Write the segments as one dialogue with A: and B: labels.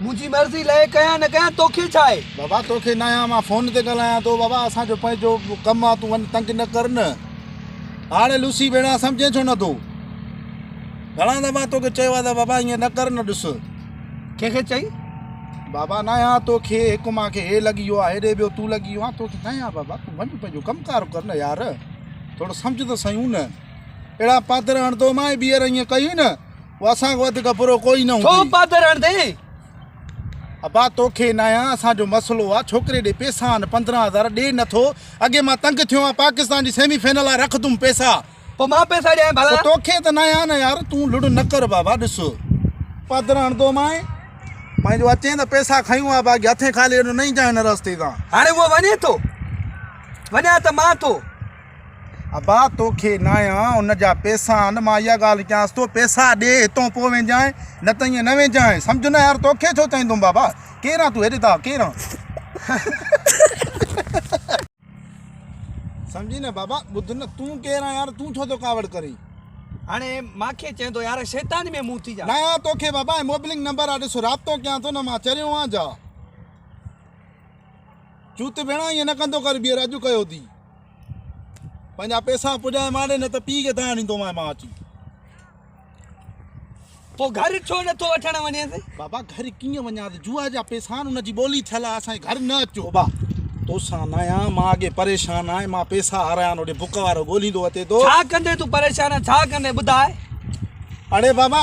A: منهنجي مرضي لئه ڪيان نه ڪيان توکي ڇا آهي. بابا توکي نه آهيان
B: مان فون تي ڳالهايان ٿو بابا اسان جو پنهنجو ڪم آهي تون وڃ تنگ نه ڪر نه هاڻي لوسي ڀيڻ آهي سمجهين ڇو نه ٿو گهڻا دفعا توکي چيو آهي ته بابا ائين نه ڪر نه ڏس ڪنهن کي
A: چئي بابا نه
B: آهيان توکي هڪ مان کي هي لڳي ويو آهي هيڏي ٻيو تون لڳي ويو آهي توکي نه آهيان بابا تون وڃ پنهنجو ڪم ڪار ڪر نه يار ٿورو سمجهه ته سهيون نه اهڙا پاڌر هڻندو مانء ٻيهر ائين ڪيئي نه اسان کان وڌيڪ برو ڪوئي نه هوندئي. ٿو پادر هڻدين. ابا توکي ناهيان اسان جو مسئلو آ ڇوڪري ڏي پيسا آن پندرهن هزار ڏي نه ٿو اڳي مان تنگ ٿيو آهيان پاڪستان جي سيمي فائنل لاء رکدم پيسا. پوء مان پيسا
A: ڏيانء ڀلا. پوء توکي ته ناهيان نه يار
B: تون لڙ نه ڪر بابا ڏس. پادر هڻدومانء پنهنجو اچين ته پيسا کنيون آ باقي هٿين خالي هيڏو نه ايندانء هن رستي تان. هاڻي هو وڃي ٿو.
A: وڃان ته مان ٿو. ابا
B: توکي ناهيان ان جا پيسا آن مان اها ڳالهه ڪيانس ٿو پيسا ڏي هتون پوء وينجانء نه ته ائين نه وينجانء سمجهه نه يار توکي ڇو چئيندم بابا ڪير آن تون هيڏي تان ڪير آن سمجهي نه بابا ٻڌ نه تون ڪير آن يار تون ڇو ٿو ڪاوڙ ڪرين هاڻي
A: مان کي چئندو يار شيطاني ۾ مون ٿي جا. نه آن توکي بابا ائين
B: موبلنگ نمبر آ ڏس رابطو ڪيان ٿو نه مان چريو آن جا چوت ڀيڻا ائين نه ڪندو ڪر ٻيهر اڄ ڪيو اٿي. پنهنجا پيسا پڄائي ماني نه ته پيء کي دانهن ڏيندومانء مان اچي.
A: پوء گهر ڇو نه ٿو وٺڻ وڃيس؟ بابا گهر ڪيئن
B: وڃانس؟ جوا جا پيسا آهن ان جي ٻولي ٿيل آهي اسان جي گهر نه اچو. بابا توسان نه آهيان مان اڳي پريشان آهي مان پيسا هارايان هوڏي بک وارو ڳوليندو اچي ٿو. ڇا ڪندين تون پريشان
A: آهين ڇا ڪندين ٻڌاء. اڙي
B: بابا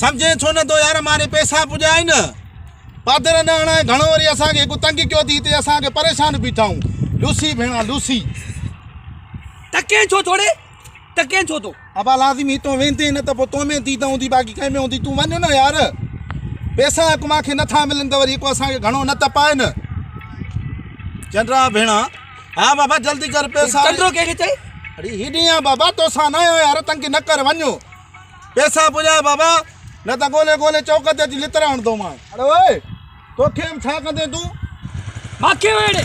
B: سمجهين ڇو نه ٿو يار ماني پيسا پڄائي نه. پادر نه اڻائي گهڻو وري اسان کي هڪ تنگ ڪيو ٿي تي اسان کي پريشان بيٺائون لوسي ڀيڻا لوسي.
A: ٽڪين ڇو ٿوڙي ٽڪين ڇو ٿو. ابا لازمي هتون
B: ويندين نه ته پوء تو ۾ ديد هوندي باقي ڪنهن ۾ هوندي تون وڃ نه يار پيسا هڪ مان کي نه ٿا ملن ته وري هڪ اسان کي گهڻو نه تپائي نه چنڊرا ڀيڻا ها بابا جلدي ڪر پيسا چنڊرو ڪنهن کي چئي
A: اڙي هيڏينهن آ
B: بابا توسان نه آهيان يار تنگ نه ڪر وڃ. پيسا پڄاء بابا، نه ته ڳولي ڳولي چوڪ تي اچي لتڙ هڻندومانء. اڙي اوء، توکي به ڇا ڪندين تون؟ ماکي وڙهي ڙي!